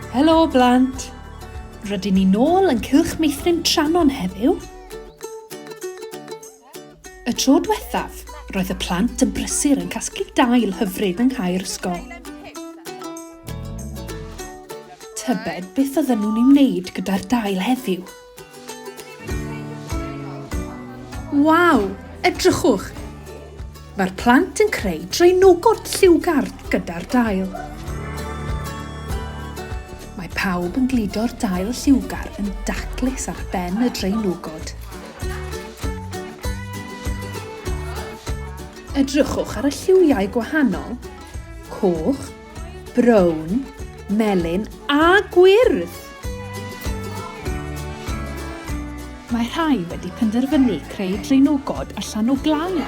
Helo blant! Rydyn ni nôl yn Cylch Meithrin Tranon heddiw. Y tro diwethaf, roedd y plant yn brysur yn casglu dail hyfryd yng nghae'r ysgol. Tybed beth oedden nhw'n ei wneud gyda'r dail heddiw? Waw! Edrychwch! Mae'r plant yn creu draenogod lliwgar gyda'r dail. Mae pawb yn gludo'r dail lliwgar yn daclus ar ben y draenogod. Edrychwch ar y lliwiau gwahanol, coch, brown, melyn a gwyrdd. Mae rhai wedi penderfynu creu draenogod allan o glai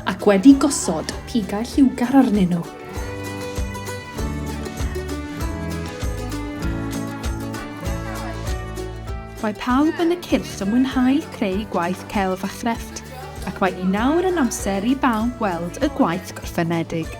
ac wedi gosod pigau lliwgar arnyn nhw. Mae pawb yn y cyrff yn mwynhau creu gwaith celf a chrefft, ac mae hi nawr yn amser i bawb weld y gwaith gorffenedig.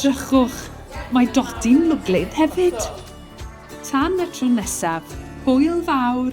Drychwch, mae Dodi'n lwglyd hefyd! Tan y tro nesaf, hwyl fawr!